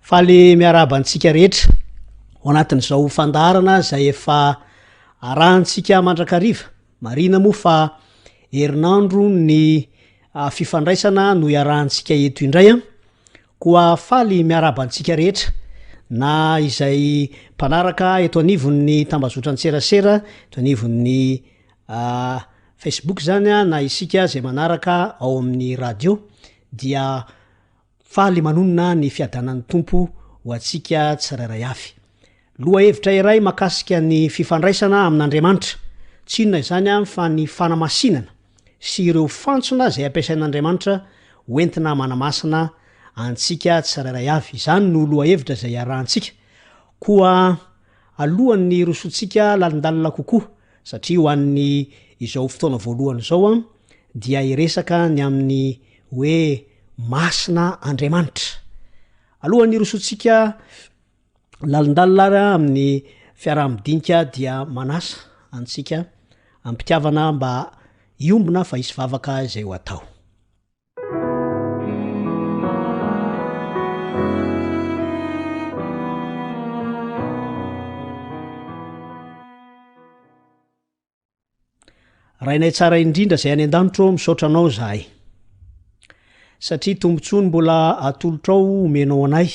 Faly miarahaba antsika rehetra ao anatin'izao fandaharana izay efa arahantsika mandrakariva. Marina moa fa herinandro ny ah, fifandraisana no iarahantsika eto indray an. Koa faly miarahaba antsika rehetra na izay mpanaraka eto anivon'ny tambazotran-tserasera, eto anivon'ny ah, Facebook izany an, na isika izay manaraka ao amin'ny radio dia Faly manonona ny fiadanan'ny Tompo ho antsika tsirairay avy. Lohahevitra iray makasika ny fifandraisana amin'Andriamanitra, tsy inona izany an fa ny fanamasinana sy ireo fantsona izay ampiasain'Andriamanitra ho entina manamasina antsika tsirairay avy. Izany no lohahevitra izay iarahantsika. Koa alohan'ny hirosoantsika lalindalina kokoa, Satria ho an'ny izao fotoana voalohany izao dia hiresaka ny amin'ny hoe Masina Andriamanitra. Alohan'ny hirosoantsika lalindalina ary amin'ny fiaraha-midinika dia manasa antsika am-pitiavana mba hiombona fa hisy vavaka izay ho atao. rainay tsara indrindra zay any an-danitro ao misaotra anao zahay satria tombontsoany mbola atolotra ao omenao anay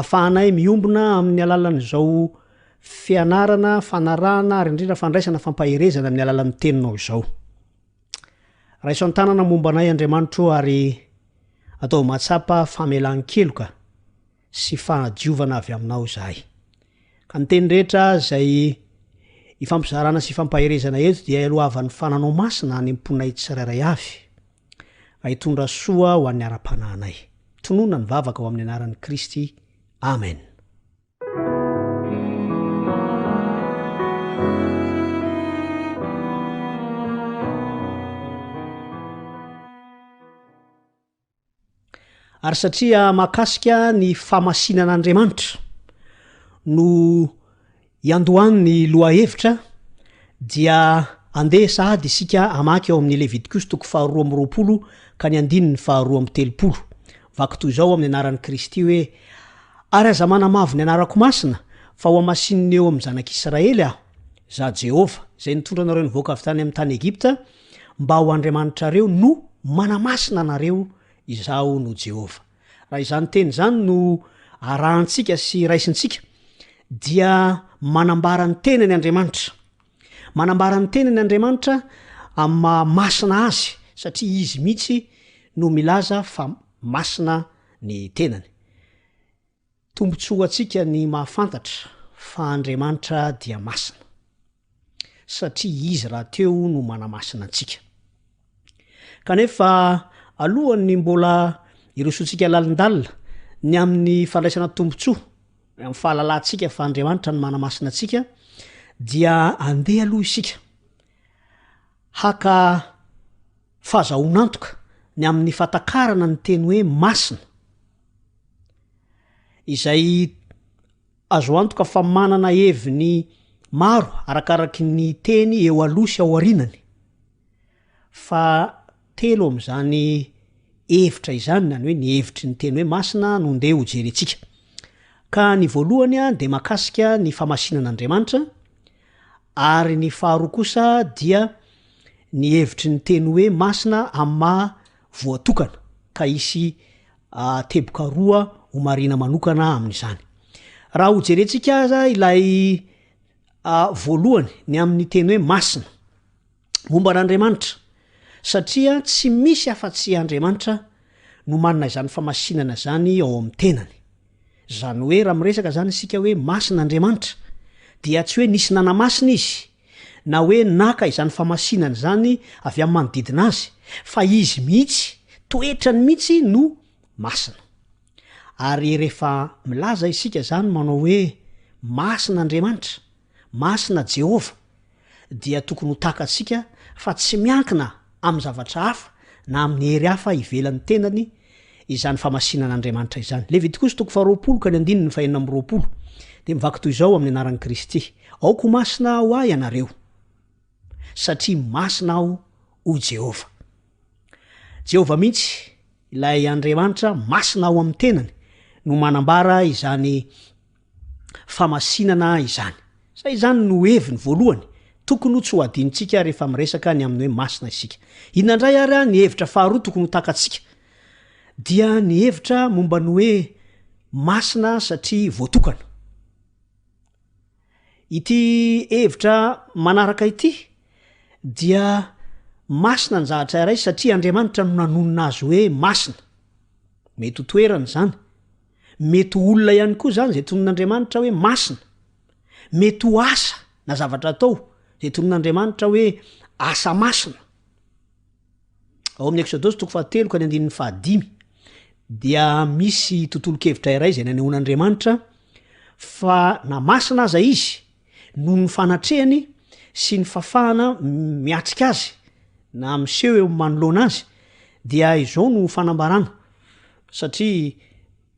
afahanay miombona amin'ny alalan'izao fianarana fanarahana ary indrindra fandraisana fampaherezana amin'ny alalan'ny teninao izao Raiso an-tanana momba anay Andriamanitro o ary ataovy mahatsapa famelan-keloka sy fahadiovana avy aminao izahay. Ka ny teny rehetra izay ifampizarana sy ifampaherezana eto dia ialohavan'ny fananao masina any am-ponay tsirairay avy raha hitondra soa ho an'ny ara-panahinay. Tonona ny vavaka ao amin'ny anaran'i Kristy. Amen. ary satria mahakasika ny famasinana andriamanitra no iandohan'ny loha hevitra dia andeha sahady isika amaky ao amin'ny levitikosy toko faharoa amroapolo ka ny andininy faharoa amtelopolo Vaky toy izao amin'ny anaran'i Kristy hoe, Ary aza manamavo ny anarako masina, fa hohamasinina eo amin'ny zanak'Israely aho. Izaho Jehovah, izay nitondra anareo nivoaka avy tany amin'ny tany Egypta, mba ho Andriamanitrareo, no manamasina anareo. Izaho no Jehovah. Raha izany teny izany no arahantsika sy raisintsika, dia manambara ny tenany Andriamanitra. Manambara ny teniny Andriamanitra amin'ny maha masina azy satria izy mihitsy no milaza fa masina ny tenany. Tombontsoa ho antsika ny mahafantatra fa Andriamanitra dia masina satria izy rahateo no manamasina antsika. Kanefa alohan'ny mbola hirosoantsika lalindalina ny amin'ny fandraisana tombontsoa amin'ny fahalalantsika fa Andriamanitra no manamasina antsika dia andeha aloha isika haka fahazahoan'antoka ny amin'ny fatakarana ny teny hoe masina izay azo antoka fa manana heviny maro arakaraky ny teny eo aloha sy ao arinany. Fa telo amin'izany hevitra izany, na ny hoe ny hevitry ny teny hoe masina no ndeha hojerentsika. Ka ny voalohany dia mahakasika ny famasinan'Andriamanitra, ary ny faharoa kosa dia ny hevitry ny teny hoe masina amin'ny maha voatokana, ka hisy teboka roa ho marihina manokana amin'izany. Raha hojerentsika aza ilay voalohany, ny amin'ny teny hoe masina, momba an'Andriamanitra, satria tsy misy afa-tsy Andriamanitra no manana izany famasinana izany ao amin'ny tenany. Izany hoe raha miresaka izany isika hoe masina Andriamanitra, dia tsy hoe nisy nanamasina izy, na hoe naka izany famasinana izany avy amin'ny manodidina azy, fa izy mihitsy, toetrany mihitsy no masina. Ary rehefa milaza isika izany manao hoe masina Andriamanitra, Masina Jehovah, dia tokony ho takatsika fa tsy miankina amin'ny zavatra hafa na amin'ny hery hafa ivelan'ny tenany izany famasinan'Andriamanitra izany. Levitikosy toko faharoapolo ka ny andininy fahenina amby roapolo dia mivaky toy izao amin'ny anaran'i Kristy, Aoka ho masina ho ahy ianareo, satria masina aho, hoy Jehovah. Jehovah mihitsy, ilay Andriamanitra masina ao amin'ny tenany, no manambara izany famasinana izany. Sa izany no heviny voalohany? Tokony ho tsy ho adinontsika rehefa miresaka ny amin'ny hoe masina isika. Inona indray ary ny hevitra faharoa tokony ho takatsika? Dia ny hevitra momba ny hoe masina satria voatokana. Ity hevitra manaraka ity dia masina ny zavatra iray satria Andriamanitra no nanonona azy hoe masina. Mety ho toerana izany. Mety ho olona ihany koa izany izay tonon'Andriamanitra hoe masina. Mety ho asa na zavatra atao izay tonon'Andriamanitra hoe asa masina. Ao amin'ny Eksodosy toko fahatelo ka ny andininy fahadimy dia misy tontolo-kevitra iray izay nanehoan'Andriamanitra fa na masina aza izy Noho ny fanatrehany sy ny fafahana miatrika azy na miseho eo manoloana azy dia izao no fanambarana satria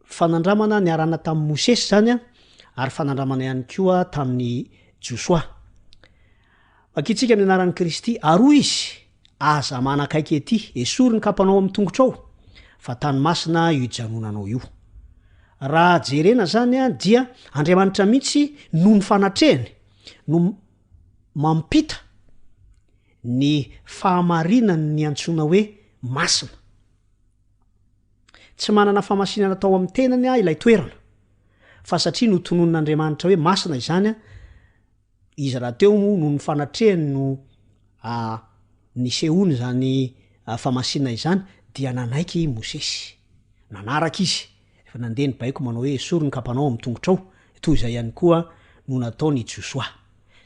fanandramana niarahana tamin'i Mosesy izany ary fanandramana ihany koa tamin'i Josoa. Vakintsika ny anaran'i Kristy ary hoy izy, Aza manakaiky ety, esory ny kapanao amin'ny tongotrao, fa tany masina io ijanonanao io. Raha jerena izany dia Andriamanitra mihitsy noho ny fanatrehany no mampita ny fahamarinany ny antsoina hoe masina. Tsy manana famasinana tao amin'ny tenany ilay toerana, fa satria notononin'Andriamanitra hoe masina izany Izy rahateo moa no ny fanatrehany no nisehoany izany famasinana izany dia nanaiky i Mosesy. Nanaraka izy, rehefa nandeha ny baiko manao hoe esory ny kapanao amin'ny tongotrao, toy izay ihany koa no nataon' i Josoa.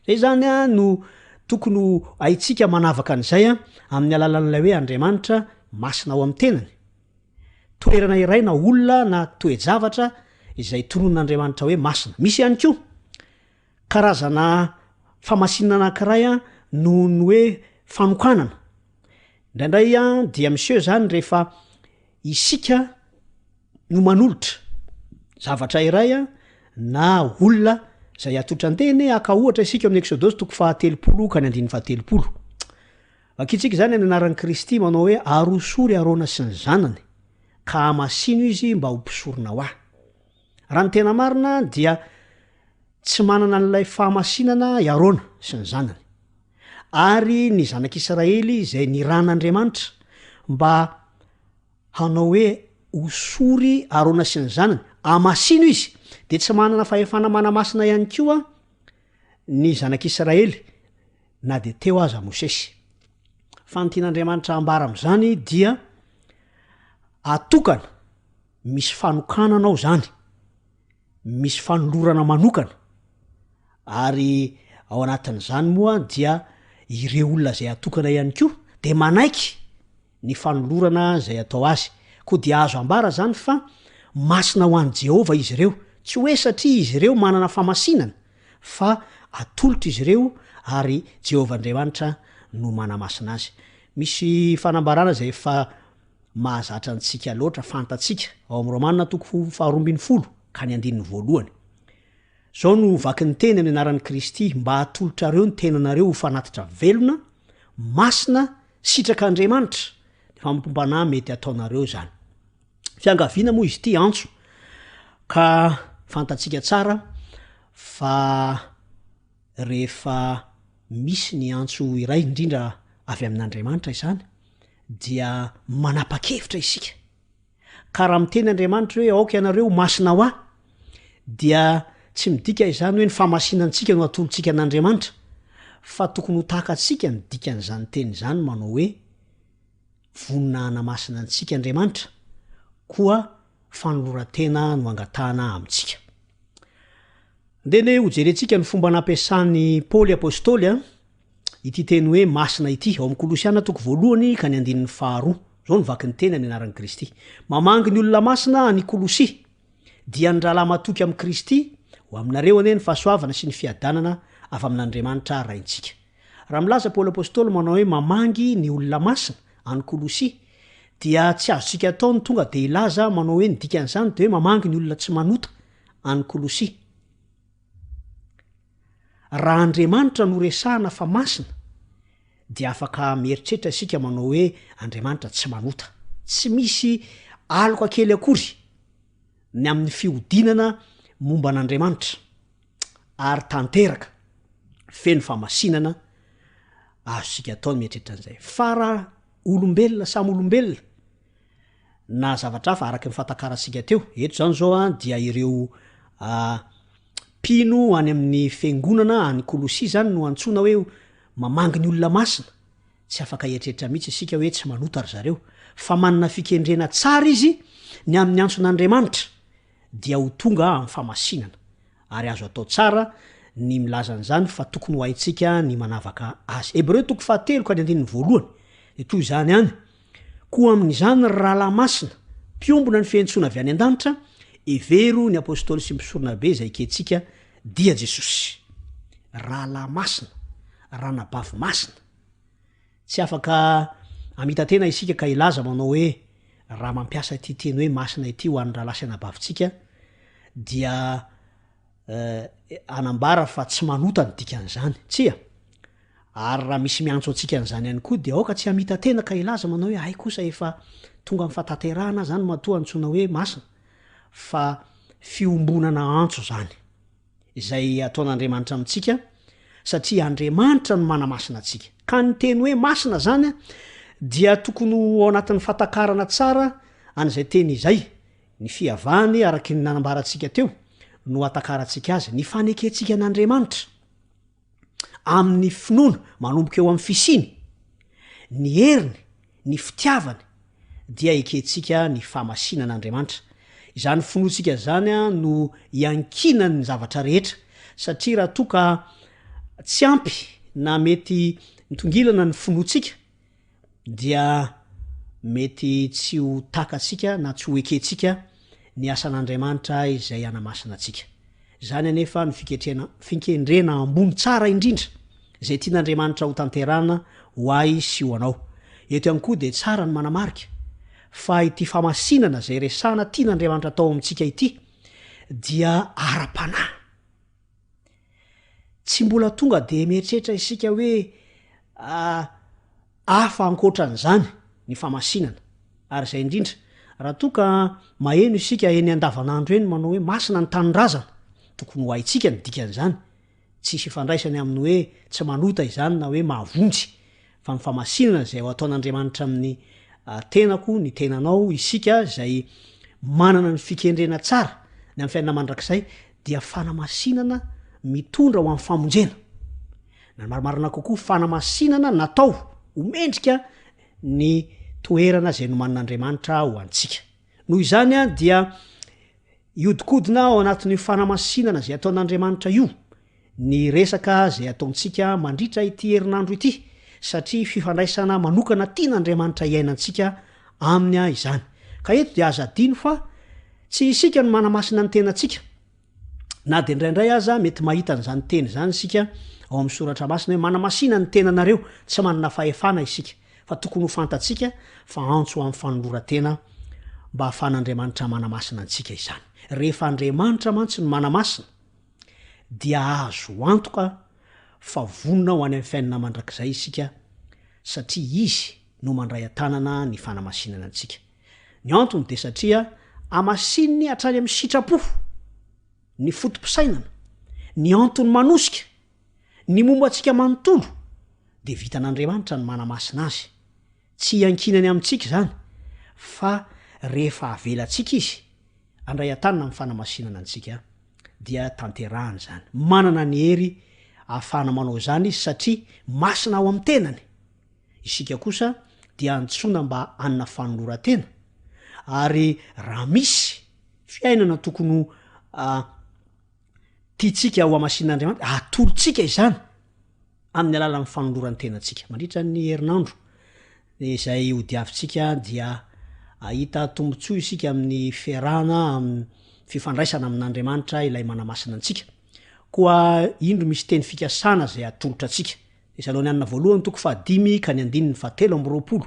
Izay izany no tokony ho haintsika manavaka an'izay amin'ny alalan'ilay hoe Andriamanitra masina ao amin'ny tenany. Toerana iray na olona na toe-javatra izay tononon'Andriamanitra hoe masina. Misy ihany koa. Karazana famasinana anankiray noho ny hoe fanokanana. Indraindray dia miseho izany rehefa isika no manolotra zavatra iray na olona izay atolotra an-teny, haka ohatra isika eo amin'ny Eksodosy toko fahatelopolo ka ny andininy fahatelopolo. Vakintsika izany amin'ny anaran'i Kristy manao hoe, Aroso ry Arona sy ny zanany, ka hamasino izy mba ho mpisoronao ahy. Raha ny tena marina dia tsy manana an'ilay fahamasinana i Arona sy ny zanany. Ary ny zanak'Israely izay niran'Andriamanitra mba hanao hoe hosory Arona sy ny zanany, amasino izy, dia tsy manana fahefana manamasina ihany koa ny zanak'Israely na dia teo aza Mosesy. Fa ny tian'Andriamanitra ambara amin'izany dia atokana Misy fanokanana ao izany, misy fanolorana manokana, ary ao anatin'izany moa dia ireo olona izay atokana ihany koa dia manaiky ny fanolorana izay atao azy. Koa dia azo ambara izany fa masina ho an'i Jehovah izy ireo, tsy hoe satria izy ireo manana famasinana, fa atolotra izy ireo, ary Jehovah Andriamanitra no manamasina azy. Misy fanambarana izay efa mahazatra antsika loatra fantatsika ao amin'ny Romana toko faharoa ambin'ny folo ka ny andininy voalohany. Izao no vaky ny teny amin'ny anaran'i Kristy, mba hatolotrareo ny tenanareo ho fanatitra velona, masina, sitraka Andriamanitra. Ny fanompoam-panahy mety ataonareo izany. Fiangaviana moa izy ity, antso, ka fantatsika tsara fa rehefa misy ny antso iray indrindra avy amin'Andriamanitra izany, dia manapa-kevitra isika ka raha miteny Andriamanitra hoe aoka ianareo ho masina ho ahy dia tsy midika izany hoe ny famasinantsika no atolontsika an'Andriamanitra fa tokony ho tahaka antsika ny dikan'izany teny izany manao hoe vonona hanamasina antsika Andriamanitra koa fanoloran-tena no angatahana amintsika. Andeha anie hojerentsika ny fomba nampiasan'i Paoly Apôstôly Ity teny hoe masina ity, ao amin'ny Kolosiana toko voalohany ka ny andininy faharoa. Izao no vaky ny teny amin'ny anaran'i Kristy. Mamangy ny olona masina any Kolosia, dia ny rahalahy matoky amin'i Kristy, Ho aminareo anie ny fahasoavana sy ny fiadanana avy amin'Andriamanitra Raintsika. Raha milaza Paoly Apostoly manao hoe mamangy ny olona masina any Kolosia, dia tsy azontsika atao ny tonga dia hilaza manao hoe ny dikan'izany dia hoe mamangy ny olona tsy manota any Kolosia. Raha Andriamanitra no resahana fa masina dia afaka mieritreritra isika manao hoe Andriamanitra tsy manota. Tsy misy aloka kely akory ny amin'ny fihodinana momba an'Andriamanitra ary tanteraka feno famasinana azontsika atao ny mieritreritra an'izay. Fa raha olombelona samy olombelona na zavatra hafa araka ny fahatakarantsika teo, eto izany izao dia ireo mpino any amin'ny fiangonana any Kolosia izany no antsoina hoe mamangy ny olona masina, tsy afaka hieritreritra mihitsy isika hoe tsy manota ry zareo, fa manana fikendrena tsara izy ny amin'ny antson'Andriamanitra dia ho tonga amin'ny famasinana. ary azo atao tsara ny milaza an'izany fa tokony ho haintsika ny manavaka azy. Hebreo toko fahatelo ka ny andininy voalohany dia toy izany any, koa amin'izany ry rahalahy masina, mpiombona ny fiantsoana avy any an-danitra, hevero ny apostoly sy mpisoronabe izay ekentsika, dia Jesosy. Rahalahy masina, ranabavy masina. Tsy afaka hamita-tena isika ka hilaza manao hoe raha mampiasa ity teny hoe masina ity ho an'ny rahalahy sy anabavintsika dia hanambara fa tsy manota ny dikan'izany. Tsia. Ary raha misy miantso antsika an'izany ihany koa dia aoka tsy hamita-tena ka hilaza manao hoe hay kosa efa tonga amin'ny fahatanterahana izany matoa antsoina hoe masina fa fiombonana antso izany. izay ataon'Andriamanitra amintsika satria Andriamanitra no manamasina antsika. Ka ny teny hoe masina izany dia tokony ho ao anatin'ny fahatakarana tsara an'izay teny izay, ny fihavany araky ny nanambarantsika teo no atakarantsika azy, ny fanekentsika an'Andriamanitra. amin'ny finoana manomboka eo amin'ny fisiany, ny heriny, ny fitiavany, dia ekentsika ny fahamasinan'Andriamanitra. Izany finoantsika izany no iankinan'ny zavatra rehetra, satria raha toa ka tsy ampy na mety mitongilana ny finoantsika, dia mety tsy ho takatsika na tsy ho ekentsika ny asan'Andriamanitra izay hanamasina antsika. Izany anefa no fiketrena, fikendrena ambony tsara indrindra izay tian'Andriamanitra ho tanterahana ho ahy sy ho anao. Eto ihany koa dia tsara ny manamarika fa ity famasinana izay resahana tian'Andriamanitra atao amintsika ity dia ara-panahy. Tsy mbola tonga dia mieritreritra isika hoe hafa ankoatra an'izany ny famasinana. Ary izay indrindra, raha toa ka maheno isika eny andavanandro eny manao hoe masina ny tanindrazana, tokony ho haintsika ny dikan'izany. Tsisy ifandraisany amin'ny hoe tsy manota izany na hoe mahavonjy fa ny famasinana izay ho ataon'Andriamanitra amin'ny tenako, ny tenanao, isika izay manana ny fikendrena tsara ny amin'ny fiainana mandrakizay dia fanamasinana mitondra ho amin'ny famonjena. Na ny marimarina kokoa, fanamasinana natao ho mendrika ny toerana izay nomanin'Andriamanitra ho antsika. Noho izany dia hiodikodina ao anatin'io fanamasinana izay ataon'Andriamanitra io ny resaka izay ataontsika mandritra ity herinandro ity satria fifandraisana manokana tian'Andriamanitra hiainantsika aminy izany. Ka eto dia aza adino fa tsy isika no manamasina ny tenantsika Na dia indraindray aza, mety mahita an'izany teny izany isika ao amin'ny soratra masina hoe manamasina ny tenanareo, tsy manana fahefana isika, fa tokony ho fantatsika fa antso ho amin'ny fanoloran-tena mba hahafahan'Andriamanitra manamasina antsika izany. Rehefa Andriamanitra mantsy no manamasina, dia azo antoka fa vonona ho any amin'ny fiainana mandrakizay isika, satria Izy no mandray an-tanana ny fanamasinana antsika. Ny antony dia satria hamasininy hatrany amin'ny sitrapo, ny foto-pisainana, ny antony manosika, ny momba antsika manontolo, dia vitan'Andriamanitra ny manamasina azy. Tsy iankinany amintsika izany, fa rehefa avelantsika Izy handray an-tanana amin'ny fanamasinana antsika, dia tanterahany izany. Manana ny hery ahafahana manao izany Izy, satria masina ao amin'ny tenany. Isika kosa dia antsoina mba hanana fanoloran-tena, ary raha misy fiainana tokony ho tiantsika hohamasinin'Andriamanitra, atolotsika izany amin'ny alalan'ny fanoloran-tenantsika. Mandritra ny herinandro izay hodiavintsika dia ahita tombontsoa isika amin'ny fiarahana amin'ny fifandraisana amin'Andriamanitra ilay manamasina antsika. Koa indro misy teny fikasana izay atolotra antsika. Tesalonianina Voalohany toko fahadimy ka ny andininy fahatelo amby roapolo,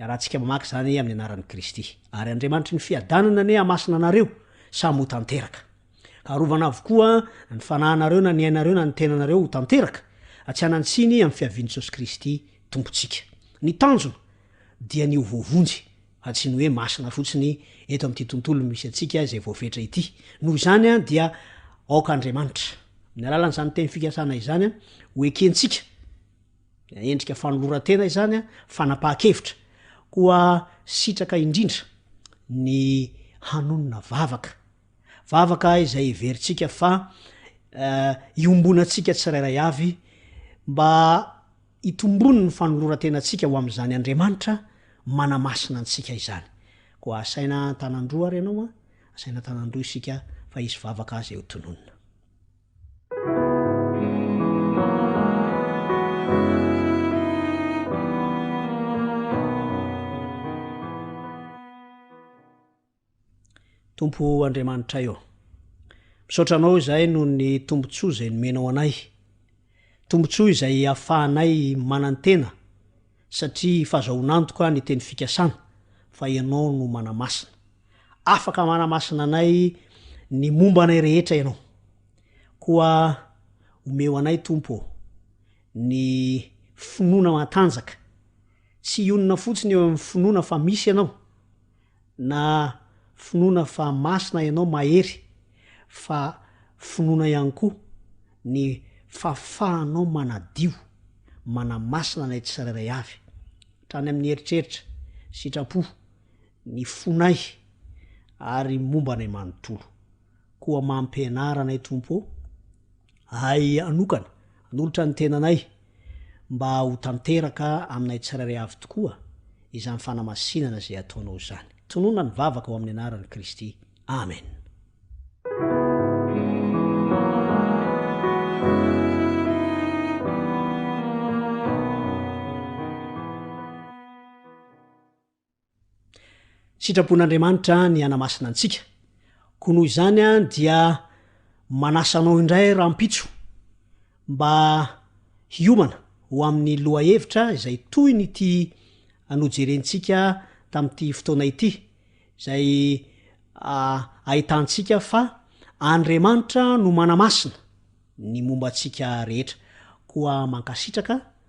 Iarahantsika mamaky izany amin'ny anaran'i Kristy. Ary Andriamanitry ny fiadanana anie hamasina anareo samy ho tanteraka. Ka arovana avokoa ny fanahinareo na ny ainareo na ny tenanareo ho tanteraka, tsy hanan-tsiny amin'ny fiavian'i Jesosy Kristy Tompontsika. Ny tanjona dia ny ho voavonjy. fa tsy ny hoe masina fotsiny eto amin'ity tontolo misy antsika izay voafetra ity. Noho izany dia aoka Andriamanitra, amin'ny alalan'izany teny fikasana izany, ho ekentsika, na endrika fanoloran-tena izany, fanapahan-kevitra, koa sitraka indrindra ny hanonona vavaka, Vavaka izay heverintsika fa iombonantsika tsirairay avy mba hitombony ny fanoloran-tenantsika ho amin'izany Andriamanitra manamasina antsika izany. Koa asaina an-tanan-droa ary ianao an, asaina an-tanan-droa isika fa hisy vavaka izay ho tononina. Tompo Andriamanitray ô. Misaotra Anao izahay noho ny tombontsoa izay nomenao anay. Tombontsoa izay ahafahanay manantena satria fazahoan'antoka ny teny fikasana fa Ianao no manamasina. Afaka manamasina anay ny momba anay rehetra Ianao. Koa omeo anay Tompo ô, ny finoana matanjaka. Tsy hionona fotsiny eo amin'ny finoana fa misy Ianao. Na finoana fa masina ianao mahery fa finoana ihany koa ny fahafahanao manadio, manamasina anay tsirairay avy, hatrany amin'ny eritreritra, sitrapo, ny fonay ary momba anay manontolo. Koa mampianara anay Tompo ô, ahy hanokana, hanolotra ny tenanay mba ho tanteraka aminay tsirairay avy tokoa izany fanamasinana izay ataonao izany. Tononina ny vavaka ao amin'ny anaran'i Kristy. Amen. Sitrapon'Andriamanitra ny hanamasina antsika, koa noho izany dia manasa anao indray rahampitso mba hiomana ho amin'ny lohahevitra izay toy ny ity nojerentsika tamin'ity fotoana ity, izay ahitantsika fa Andriamanitra no manamasina ny momba antsika rehetra. Koa mankasitraka.